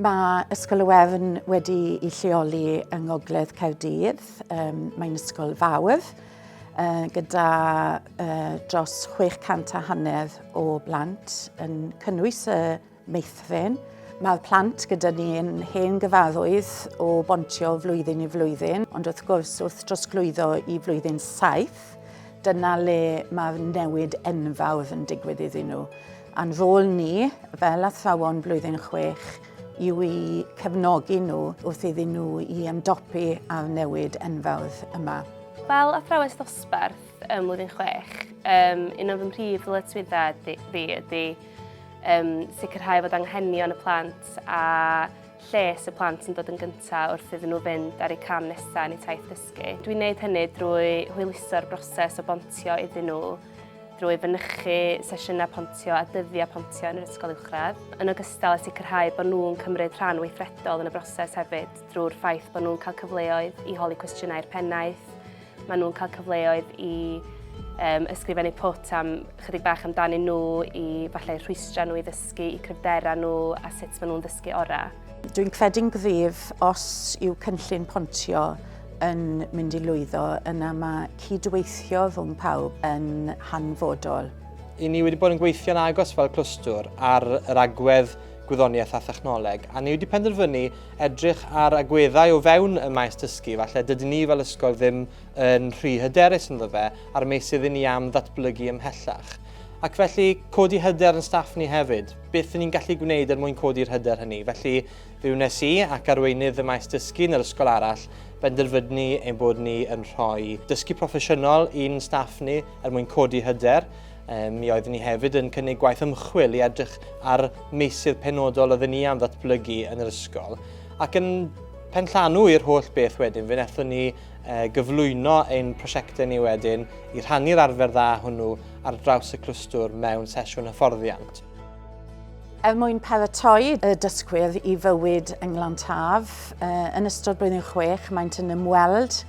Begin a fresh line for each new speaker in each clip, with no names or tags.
Mae Ysgol y Wefn wedi ei lleoli yng Ngogledd Caerdydd. Um, Mae'n ysgol fawr uh, gyda uh, dros 600 a hanner o blant yn cynnwys y meithrin. Mae'r plant gyda ni yn hen gyfarwydd o bontio flwyddyn i flwyddyn, ond wrth gwrs wrth drosglwyddo i flwyddyn saith, dyna le mae'r newid enfawr yn digwydd iddyn nhw. A'n rôl ni, fel athrawon blwyddyn chwech, yw i cefnogi nhw wrth iddyn nhw i ymdopi â'r newid enfawr yma. Fel athrawes dosbarth ym mlwyddyn chwech, um, un o'n fy mhrif ddyletswyddau fi ydy um, sicrhau fod anghenion y plant a lles y plant yn dod yn gyntaf wrth iddyn nhw fynd ar eu cam nesaf yn eu taith dysgu. Dwi'n gwneud hynny drwy hwyluso'r broses o bontio iddyn nhw drwy fynychu sesiynau pontio a dyddiau pontio yn yr ysgol uwchradd, yn ogystal â sicrhau bod nhw'n cymryd rhan weithredol yn y broses hefyd drwy'r ffaith bod nhw'n cael cyfleoedd i holi cwestiynau'r pennaeth, maen nhw'n cael cyfleoedd i um, ysgrifennu pwt am chydig bach amdanyn nhw i falle rhwystrau nhw i ddysgu, i cryfderau nhw a sut maen nhw'n ddysgu orau. Dwi'n credu'n gryf os yw cynllun pontio yn mynd i lwyddo, yna mae cydweithio rhwng pawb yn hanfodol. I ni wedi bod yn gweithio'n agos fel clwstwr ar yr agwedd gwyddoniaeth a thechnoleg, a ni wedi penderfynu edrych ar agweddau o fewn y maes dysgu, falle dydyn ni fel ysgol ddim yn rhy hyderus ynddo fe a'r meysydd i ni am ddatblygu ymhellach. Ac felly, codi hyder yn staff ni hefyd. beth ni'n gallu gwneud er mwyn codi'r hyder hynny. Felly, fe wnes i ac arweinydd y maes dysgu yn yr ysgol arall benderfynu ein bod ni yn rhoi dysgu proffesiynol i'n staff ni er mwyn codi hyder. Um, mi oeddwn ni hefyd yn cynnig gwaith ymchwil i edrych ar meysydd penodol oedden ni am ddatblygu yn yr ysgol. Ac yn penllanw i'r holl beth wedyn, fe wnaethon ni gyflwyno ein prosiectau ni wedyn i rhannu'r arfer dda hwnnw ar draws y clwstwr mewn sesiwn hyfforddiant. Er mwyn paratoi y dysgwyr i fywyd yng Nglantaf, yn ystod blwyddyn chwech maent yn ymweld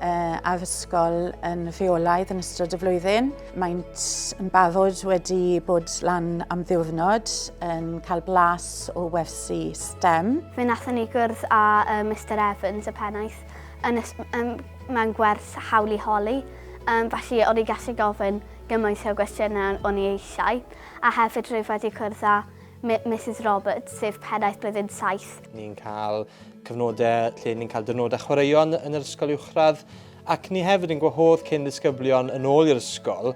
â'r ysgol yn rheolaidd yn ystod y flwyddyn. Maent yn barod wedi bod lan am ddiwrnod yn cael blas o wersi STEM. Fe nathon ni gwrdd â Mr Evans y pennaeth Yn y, um, mae'n gwerth hawl i holi, um, felly o'n i gallu gofyn gymaint o gwestiynau o'n i eisiau, a hefyd rwyf wedi cwrdd â Mrs Roberts, sef pennaeth blwyddyn 7. Ni'n cael cyfnodau lle ni'n cael dynodau chwaraeon yn yr ysgol uwchradd, ac ni hefyd yn gwahodd cyn ddisgyblion yn ôl i'r ysgol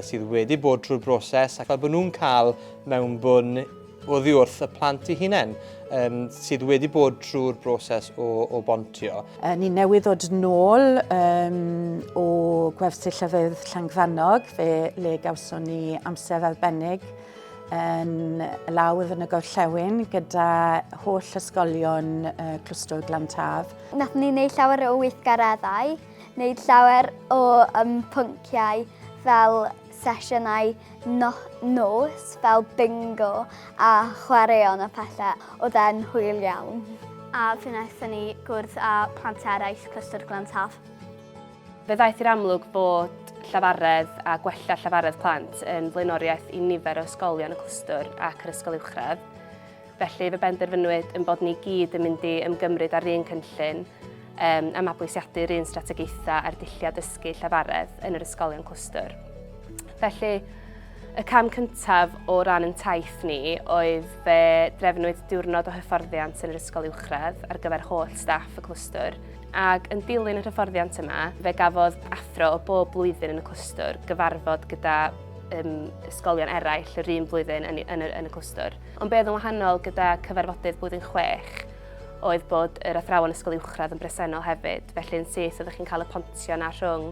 sydd wedi bod trwy'r broses ac fel bod nhw'n cael mewnbwn oddi wrth y plant i hunain um, sydd wedi bod trwy'r broses o, o bontio. Uh, ni newydd ddod nôl um, o gwersi llyfydd Llangfanog fe le gawson ni amser arbennig yn lawr yn y gorllewin gyda holl ysgolion uh, Clwstwr Glantaf. Nath ni wneud llawer o weithgareddau Wneud llawer o um, pynciau fel sesiynau no nos fel bingo a chwaraeon a pethau oedd e'n hwyl iawn. A fe wnaethon ni gwrdd â plant eraill Clystr Glantaf. Fe ddaeth i'r amlwg bod llafaredd a gwella llafaredd plant yn flaenoriaeth i nifer o ysgolion y clwstwr ac yr ysgol uwchradd. Felly, fe benderfynwyd yn bod ni gyd yn mynd i ymgymryd â'r un cynllun um, a mabwysiadu'r un strategaethau ar dulliau dysgu llafaredd yn yr ysgolion clwstwr. Felly, y cam cyntaf o ran yn taith ni oedd fe drefnwyd diwrnod o hyfforddiant yn yr ysgol uwchradd ar gyfer holl staff y clwstwr, ac yn dilyn y hyfforddiant yma, fe gafodd athro o bob blwyddyn yn y clwstwr gyfarfod gyda um, ysgolion eraill yr un blwyddyn yn, yn, yn y clwstwr. Ond be oedd yn wahanol gyda cyfarfodydd blwyddyn chwech oedd bod yr athrawon ysgol uwchradd yn bresennol hefyd, felly yn syth oeddech chi'n cael y pontio na rhwng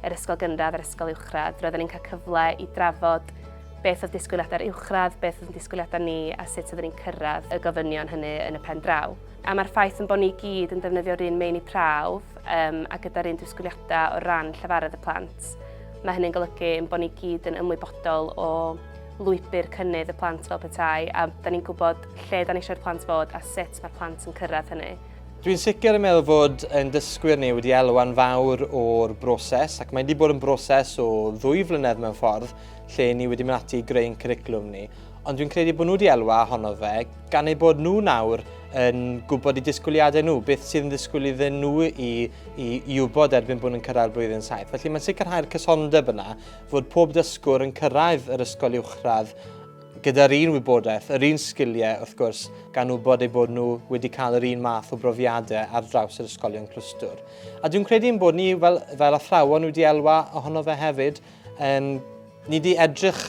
yr ysgol gynradd a'r ysgol uwchradd. Roedden ni'n cael cyfle i drafod beth oedd disgwyliadau'r uwchradd, beth oedd disgwyliadau ni a sut oeddwn ni'n cyrraedd y gofynion hynny yn y pen draw. A mae'r ffaith yn bod ni gyd yn defnyddio'r un meini prawf um, a gyda'r un disgwyliadau o ran llefarydd y plant. Mae hynny'n golygu yn bod ni gyd yn ymwybodol o lwybr cynnydd y plant fel petai, a da ni'n gwybod lle da ni eisiau'r plant fod a sut mae'r plant yn cyrraedd hynny. Dwi'n sicr yn meddwl fod yn dysgwyr ni wedi elwa'n fawr o'r broses ac mae wedi bod yn broses o ddwy flynedd mewn ffordd lle ni wedi mynd ati i greu'n cwricwlwm ni, ond dwi'n credu bod nhw wedi elwa honno fe gan eu bod nhw nawr yn gwybod i disgwyliadau nhw, beth sydd yn ddisgwyl iddyn nhw i, i, i wybod erbyn bod nhw'n cyrraedd blwyddyn saith. Felly mae'n sicrhau'r cysondeb yna fod pob dysgwr yn cyrraedd yr ysgol uwchradd gyda'r un wybodaeth, yr un sgiliau, wrth gwrs, gan wybod eu bod nhw wedi cael yr un math o brofiadau ar draws yr ysgolion clwstwr. A dwi'n credu yn bod ni, fel, fel athrawon, wedi elwa ohono fe hefyd, um, ni wedi edrych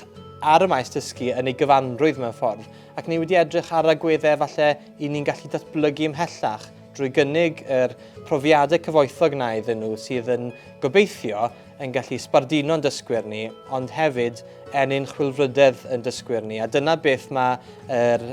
ar y maes dysgu yn ei gyfanrwydd mewn ffordd, ac ni wedi edrych ar agweddau falle i ni'n gallu datblygu ymhellach drwy gynnig yr profiadau cyfoethog na iddyn nhw sydd yn gobeithio yn gallu sbarduno'n dysgwyr ni, ond hefyd ennyn chwilfrydedd yn dysgwyr ni. A dyna beth mae yr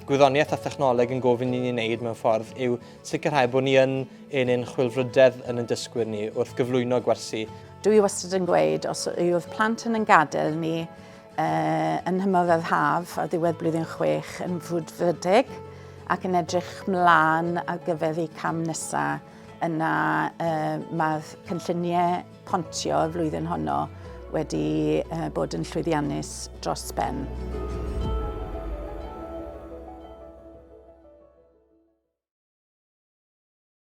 gwyddoniaeth a thechnoleg yn gofyn i ni wneud mewn ffordd yw sicrhau bod ni yn ennyn chwilfrydedd yn yn dysgwyr ni wrth gyflwyno gwersi. Dwi wastad yn gweud, os yw'r plant yn yn gadael ni uh, yn hymor yr haf ar ddiwedd blwyddyn chwech yn frwdfrydig ac yn edrych mlaen ar gyfer eu cam nesaf, Yna mae'r cynlluniau pontio y flwyddyn honno wedi bod yn llwyddiannus dros ben.